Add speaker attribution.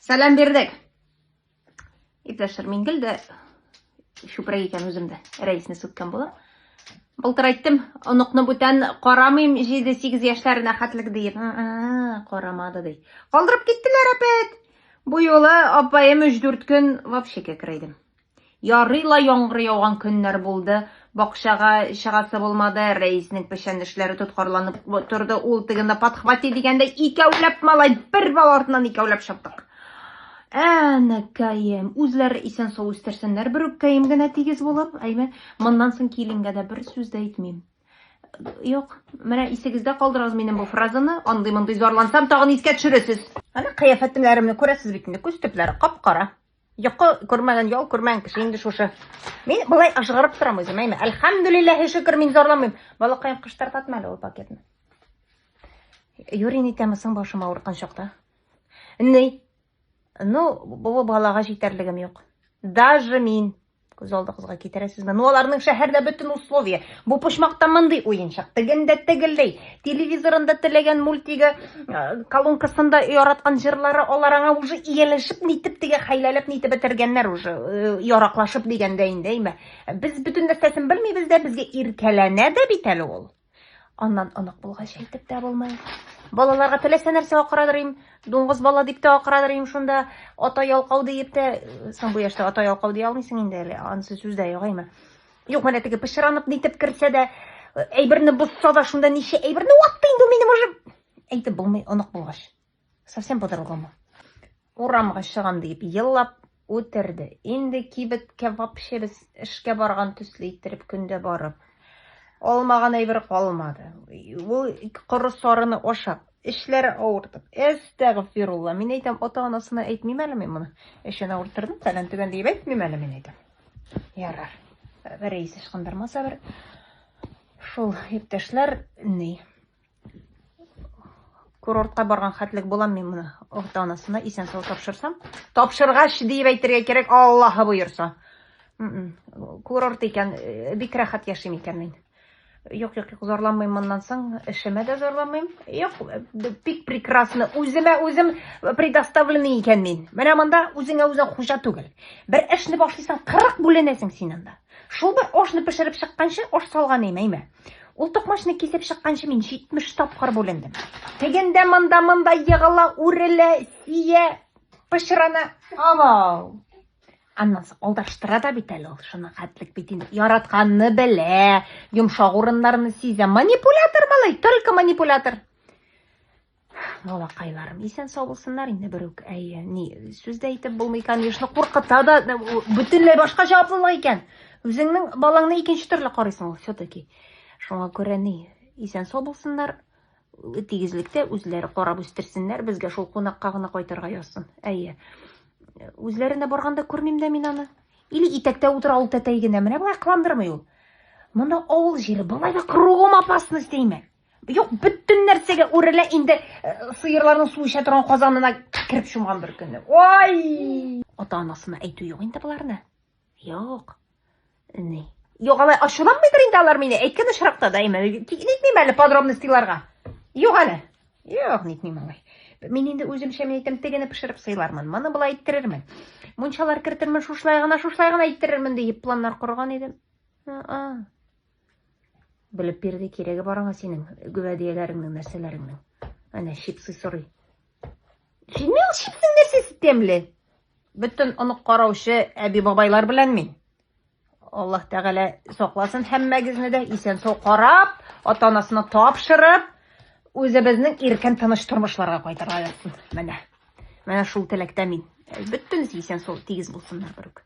Speaker 1: Сәлам бирдек. Иптәшләр, мин гел дә чүпрәк икән үзем дә рәисне сүккән булам. Былтыр әйттем, оныкны бүтән карамыйм 7-8 яшьләренә хәтлек диеп. Карамады ди. Калдырып киттеләр әпәт. Бу юлы апаем 3-4 көн вообще кәкрәйдем. Ярый ла яңгыр яуган көннәр булды, бакчага чыгасы булмады, Рәиснең печән эшләре тоткарланып торды, ул тегене подхвати дигәндәй, икәүләп малай, бер бала артыннан икәүләп чаптык. Әнәкәем, үзләре исән-сау үстерсеннәр, бер үпкәем генә тигез булып, әйме, моннан соң киленгә дә бер сүз дә әйтмим. Юк, менә исегездә калдырыгыз минем бу фразаны, андый-мондый зарлансам, тагын искә төшерәсез. Ана кыяфәтләремне күрәсез бит инде, күз төпләре кап-кара. Йокы күрмәгән, ял күрмәгән кеше инде шушы. Мин болай ажгарып торам үзем, әйме. Әлхәмдүлилләһи шөкер, мин зарламыйм. Балакаем кыштар татма әле ул пакетны. Юрин итәме соң башым авырткан чакта? Ни? Ну, бу балага җитәрлегем юк. Даже мин Күз алдыгызга китерәсезме? Ну, аларның шәһәрдә бөтен условия. Бу почмакта мондый уенчык, тегендә тегелдәй. Телевизорында теләгән мультигы, э, колонкасында яраткан җырлары, алар аңа уже ияләшеп нитеп теге хәйләләп нитеп бетергәннәр уже, э, яраклашып дигәндә инде, әйме. Без бөтен нәрсәсен белмибез дә, безгә иркәләнә дә бит әле ул. Аннан онык булгач әйтеп тә булмый. Балаларга теләсә нәрсә акырадыр им, дуңгыз бала дип тә акырадыр им шунда, ата ялкау диеп тә, соң бу яшьтә ата ялкау ди алмыйсың инде әле, анысы сүз дә югаймы. Юк, менә теге пычранып нитеп керсә дә, әйберне бозса да, шунда ничә әйберне ватты инде минем уже. Әйтеп булмый онык булгач. Совсем по-другому. Урамга чыгам диеп еллап үтерде. Инде кибеткә вообще без эшкә барган төсле иттереп көндә барып. Алмаган әйбер калмады. Ул коры сарыны ашап, эшләре авыртып. Әстәгфирулла. Мин әйтәм, ата-анасына әйтмим әле мин моны. Эшен авырттырдым, фәлән түгән диеп әйтмим әле мин әйтәм. Ярар. Рәис ычкындырмаса бер. Шул иптәшләр ни? Курортка барган хәтлек булам мин моны орта анасына исән сау тапшырсам. Тапшыргач диеп әйтергә кирәк, Аллаһы боерса. М-м, курорт икән, э, бик рәхәт яшим икән мин. Юк, юк, юк, зарланмыйм моннан соң, эшемә дә зарланмыйм. Юк, бик прекрасно. Үземә үзем предоставленный икән мин. Менә монда үзеңә үзең хуҗа түгел. Бер эшне башлыйсың, 40 бүленәсең син анда. Шул бер ашны пешереп чыкканчы, аш салган имәймә. Ул токмачны кисеп чыкканчы мин 70 тапкыр бүлендем. Тегендә монда монда егыла, үрелә, сия, пычрана. Авау. Аннан соң алдаштыра да бит әле ул шуны хәтлек бит инде. Яратканны белә, йомшак урыннарны сизә. Манипулятор малай, только манипулятор. Балакайларым, исән сау булсыннар инде бер үк. Әйе, ни, сүз дә әйтеп булмый, конечно, куркыта да, бөтенләй башка җаваплылык икән. Үзеңнең балаңны икенче төрле карыйсың ул все-таки. Шуңа күрә ни, исән сау булсыннар, тигезлектә үзләре карап үстерсеннәр, безгә шул кунакка гына кайтырга язсын. Әйе. Үзләренә барганда күрмим дә мин аны. Или итәктә утыра ул тәтәй генә, менә болай кыландырмый ул. Монда авыл җире, болай да кругом опасность димә. Юк, бөтен нәрсәгә үрелә инде э, сыерларның су эчә торган казанына кереп чумган бер көнне. Ой! Ата-анасына әйтү юк инде боларны. Юк. Ни? Юк, алай ачуланмыйдыр инде алар мине. Әйткән очракта да әйме. Нитмим әле подробностьларга. Юк әле. Юк, нитмим алай. Мин инде үземчә мин әйтәм, тегене пешереп сыйлармын. Моны болай иттерермен. Мунчалар кертермен, шушлай гына, шушлай гына иттерермен диеп планнар корган идем. А-а. Белеп бирде кирәге бар аңа синең гөбәдияләреңнең, нәрсәләреңнең. Әнә чипсы сорый. Җимме ул чипсның нәрсәсе тәмле? Бөтен онык караучы әби бабайлар белән мин. Аллаһ Тәгалә сакласын һәммәгезне дә исән сау карап, ата-анасына тапшырып, үзебезнең иркен тыныч тормышларга кайтарга язсын. Менә. Менә шул теләктә мин. Бөтенесе исән сау тигез булсыннар, бөрек.